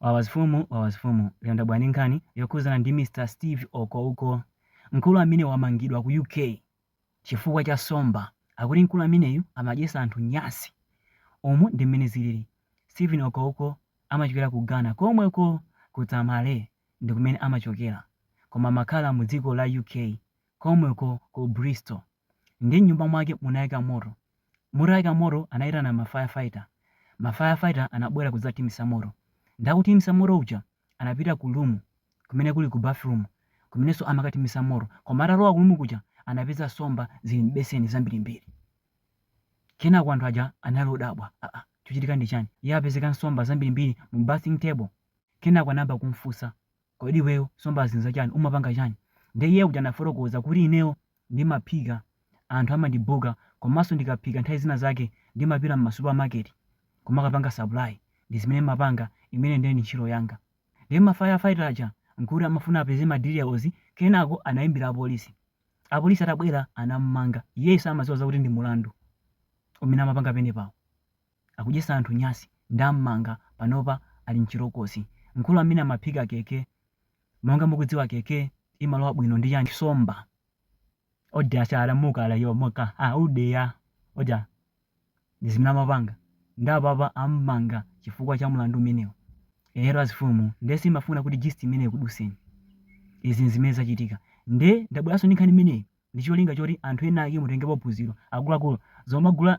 Wawa zifumu wawa zifumu lero ndabwera ndi nkhani yokhuzana ndi Mr Steve Okowko mkulu amene wamangidwa ku UK chifukwa cha nsomba akuti mkulu ameneyu amadyesa anthu nyasi umu ndi mmene zilili Steven Okowko amachokera ku Ghana komweko ku Tamale ndikumene amachokera koma amakhala mu dziko la UK komweko ku Bristol ndi m'nyumba mwake munayaka moto. Mutayaka moto anayitana ma fire fighter. Ma fire fighter anabwera kudzathimitsa moto. Ndakuthimitsa moto uja anapita ku room kumene kuli ku bathroom kumenenso amakathimitsa moto. Koma atalowa ku room kuja anapeza nsomba zili m'beseni zambirimbiri. Kenako anthu aja anali odabwa, aa chikuchitika ndi chani? Kuti apezeke nsomba zambirimbiri mu bathing table. Kenako anayamba kum'funsa Kodi iweyo nsombazi nzachani? Umapanga chani? Nde iye uja anafotokoza kuti ineyo ndimaphika anthu amandibuka komanso ndikaphika nthawi zina zake ndimapita m'ma supermarket kumakapanga supply ndizimene ndimapanga imeneyo nde ndi ntchito yanga. Nde ma fire fighter aja nkuti amafuna apeze ma details kenako anaimbira apolisi. Apolisi atabwera anamumanga. Iyeyu samadziwa zakuti ndi mulandu umene amapanga penepawo. Akudyesa anthu nyasi ndammanga panopa ali m'chitokosi mkulu amene amaphika kk monga mukudziwa kk imalowa bwino ndi chani nsomba odya sala mukala yomoka a udea oja ndizimene amapanga nde apapa ammanga chifukwa cha mlandu umenewo ero azifumu nde simafuna kuti gist imeneyi ikuduseni izi nzimene zachitika nde ndabweranso ndi nkhani imeneyi ndicholinga choti anthu ena ake mutengepo phunziro akuluakulu zomagula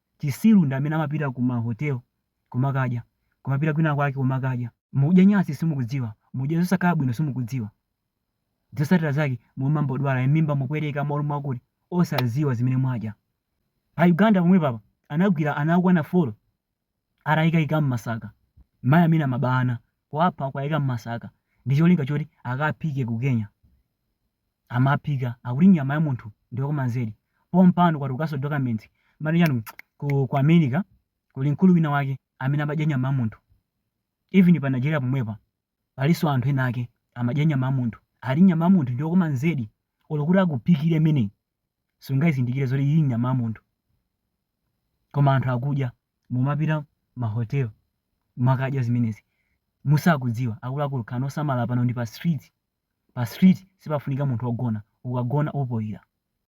Chisiru ndi amene amapita ku ma hotel kumakadya, kumapita kwina kwake kumakadya. Mukudya nyasi simukudziwa, mukudya zosakhala bwino simukudziwa. Zosatira zake mumangodwala mmimba mukupweteka, mmutu mwakuti, osadziwa zimene mwadya. Pa Uganda pomwepa apa anagwira ana okwana folo atayikaikidwa mmasaka, mayi amene amaba ana. kuwapha nkuwaika mmasaka ndi cholinga choti akaphike ku Kenya. Amaphika akuti nyama ya munthu ndi yokoma zedi. Pompano kwatulukanso documents mati chanu ku, ku America kuli mkulu wina wake amene amadya nyama ya munthu. Even pa Nigeria pomwepa palinso anthu ena ake amadya nyama ya munthu. Ati nyama ya munthu ndi yokoma zedi olo kuti akuphikire imeneyi. sungayizindikire zoti ili nyama ya munthu koma anthu akudya mumapita mahotel mukadya zimenezi musakudziwa akuluakulu khalani osamala pano ndi pa street pa street sipafunika munthu ogona ukagona upoira